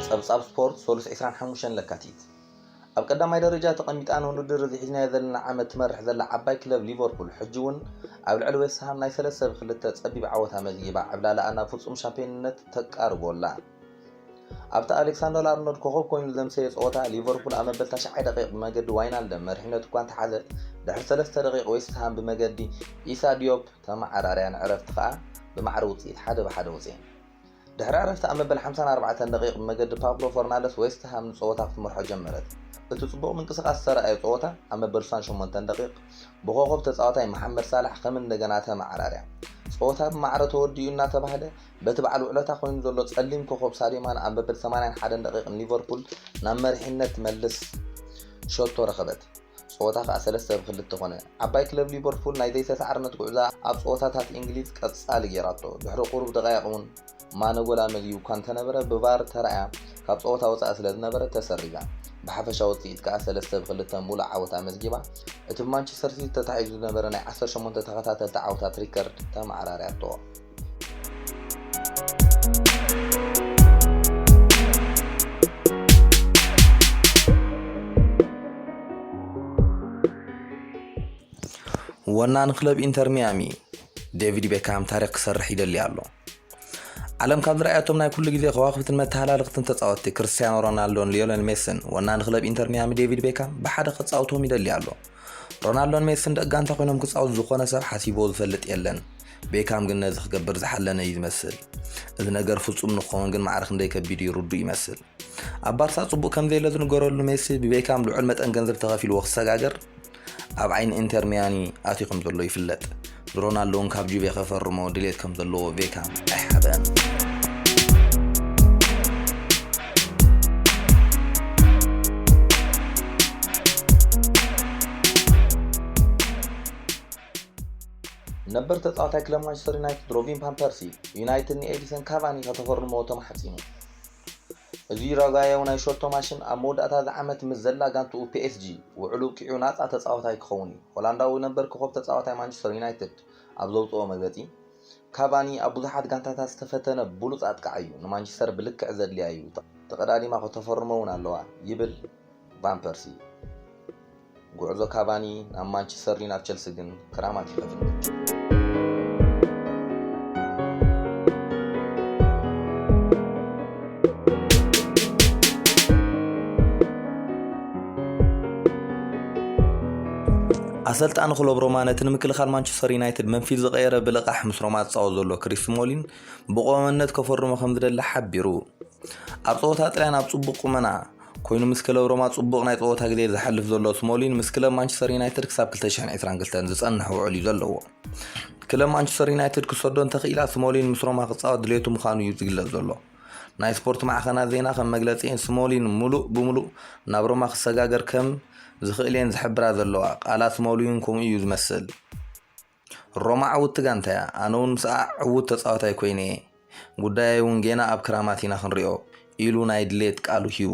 ጸብጻብ ስፖርት ሰሉስ ዕስራን ሓሙሽተን ለካቲት፣ ኣብ ቀዳማይ ደረጃ ተቐሚጣ ንውድድር እዚ ሒዝናዮ ዘለና ዓመት ትመርሕ ዘላ ዓባይ ክለብ ሊቨርፑል ሕጂ'ውን ኣብ ልዕሊ ዌስትሃም ናይ ሰለስተ ብ ክልተ ጸቢብ ዓወት ኣመዝጊባ ዕብላለኣ ናብ ፍጹም ሻምፕዮንነት ተቃርቦ ኣላ። ኣብቲ ኣሌክሳንደር ኣርኖልድ ኮኸብ ኮይኑ ዘምሰየ ጸወታ፣ ሊቨርፑል ኣብ መበል ታሽዓይ ደቒቕ ብመገዲ ዋይናልደም መሪሕነቱ እኳ እንተሓዘት፣ ድሕሪ ሰለስተ ደቒቕ ዌስት ሃም ብመገዲ ኢሳ ዲዮፕ ተመዓራርያ ንዕረፍቲ ከኣ ብማዕረ ውጽኢት ሓደ ብ ሓደ ወጺኤን። ድሕሪ ዕረፍቲ ኣብ መበል ሓምሳን ኣርባዕተን ደቒቕ ብመገዲ ፓብሎ ፈርናንደስ ዌስት ሃም ንጸወታ ክትመርሖ ጀመረት። እቲ ጽቡቕ ምንቅስቓስ ዝተራእዮ ጸወታ፣ ኣብ መበል ሱሳን ሸሞንተን ደቒቕ ብኮኾብ ተጻዋታይ መሓመድ ሳላሕ ከም እንደገና ተመዓራርያ፣ ጸወታ ብማዕረ ተወዲኡ እናተባህለ፣ በቲ በዓል ውዕለታ ኮይኑ ዘሎ ጸሊም ኮኾብ ሳድዮ ማነ ኣብ መበል ሰማንያን ሓደን ደቒቕ ንሊቨርፑል ናብ መሪሕነት ትመልስ ሸቶ ረኸበት። ጸወታ ከኣ ሰለስተ ብ ክልተ ኮነ። ዓባይ ክለብ ሊቨርፑል ናይ ዘይተሳዕርነት ጉዕዞኣ ኣብ ጸወታታት እንግሊዝ ቀጻሊ ገይራቶ። ድሕሪ ቁሩብ ደቓይቕ ውን ማነ ጎል ኣመዝጊቡ እኳ እንተነበረ ብ ቫር ተራእያ ካብ ጸወታ ወጻኢ ስለዝነበረት ተሰሪዛ። ብሓፈሻ ውጽኢት ከኣ ሰለስተ ብ ክልተ ምሉእ ዓወት ኣመዝጊባ እቲ ብ ማንቸስተር ሲቲ ተታሒዙ ዝነበረ ናይ ዓሰርተ ሸሞንተ ተኸታተልቲ ዓወታት ሪከርድ ተመዓራርያቶ። ወናን ክለብ ኢንተር ሚያሚ ዴቪድ ቤካም ታሪክ ክሰርሕ ይደሊ ኣሎ ዓለም ካብ ዝረኣያቶም ናይ ኩሉ ግዜ ከዋክብትን መተሃላለኽትን ተፃወትቲ ክርስትያኖ ሮናልዶን ሊዮነል ሜስን ወናን ክለብ ኢንተር ሚያሚ ዴቪድ ቤካም ብሓደ ክፃውቶም ይደሊ ኣሎ ሮናልዶን ሜስን ደቂ ጋንታ ኮይኖም ክፃወቱ ዝኾነ ሰብ ሓሲቦ ዝፈልጥ የለን ቤካም ግን ነዚ ክገብር ዝሓለነ እዩ ዝመስል እዚ ነገር ፍጹም ንክኸውን ግን ማዕረ ክንደይ ከቢድ እዩ ርዱእ ይመስል ኣብ ባርሳ ጽቡቅ ከም ዘየለ ዝንገረሉ ሜሲ ብቤካም ልዑል መጠን ገንዘብ ተኸፊልዎ ክሰጋገር ኣብ ዓይኒ ኢንተር ሚያኒ ኣትዩ ከም ዘሎ ይፍለጥ ሮናልዶ እውን ካብ ጁቬ ከፈርሞ ድሌት ከም ዘለዎ ቤካም ኣይሓበን ነበር ተጻዋታይ ክለብ ማንቸስተር ዩናይትድ ሮቢን ፓን ፐርሲ ዩናይትድ ንኤዲሰን ካቫኒ ከተፈርምዎ ተማሕጺኑ እዚ ዩራጓያዊ ናይ ሸቶ ማሽን ኣብ መወዳእታ እዚ ዓመት ምስ ዘላ ጋንትኡ ፒኤስጂ ውዕሉ ኣብቂዑ ናጻ ተጻዋታይ ክኸውን እዩ ሆላንዳዊ ነበር ኮኸብ ተጻዋታይ ማንቸስተር ዩናይትድ ኣብ ዘውጽኦ መግለጺ ካቫኒ ኣብ ብዙሓት ጋንታታት ዝተፈተነ ብሉጽ ኣጥቃዓይ እዩ ንማንቸስተር ብልክዕ ዘድልያ እዩ ተቐዳዲማ ከተፈርሞ እውን ኣለዋ ይብል ቫን ፐርሲ ጉዕዞ ካቫኒ ናብ ማንቸስተር ናብ ቸልሲ ግን ክራማት እዩ ከፍንግጥ ኣሰልጣኒ ክሎብ ሮማ ነቲ ንምክልኻል ማንቸስተር ዩናይትድ መንፊት ዝቐየረ ብልቓሕ ምስ ሮማ ዝፃወት ዘሎ ክሪስ ስሞሊን ብቆመነት ከፈርሞ ከም ዝደሊ ሓቢሩ ኣብ ጸወታ ጥልያን ኣብ ጽቡቕ ቁመና ኮይኑ ምስ ክለብ ሮማ ጽቡቕ ናይ ጸወታ ግዜ ዝሓልፍ ዘሎ ስሞሊን ምስ ክለብ ማንቸስተር ዩናይትድ ክሳብ 2022 ዝጸንሕ ውዕል እዩ ዘለዎ ክለብ ማንቸስተር ዩናይትድ ክሰዶ እንተኽኢላ ስሞሊን ምስ ሮማ ክፃወት ድሌቱ ምዃኑ እዩ ዝግለጽ ዘሎ ናይ ስፖርት ማዕኸናት ዜና ከም መግለፂኤን ስሞሊን ሙሉእ ብሙሉእ ናብ ሮማ ክሰጋገር ከም ዝኽእል እየን ዝሕብራ ዘለዋ ቃላት ስሞሊን ከምኡ እዩ ዝመስል ሮማ ዕውቲ ጋንታ እያ፣ ኣነ እውን ምስኣ ዕዉት ተጻዋታይ ኰይነ እየ፣ ጉዳየይ እውን ጌና ኣብ ክራማት ኢና ክንሪኦ ኢሉ ናይ ድሌት ቃሉ ሂቡ።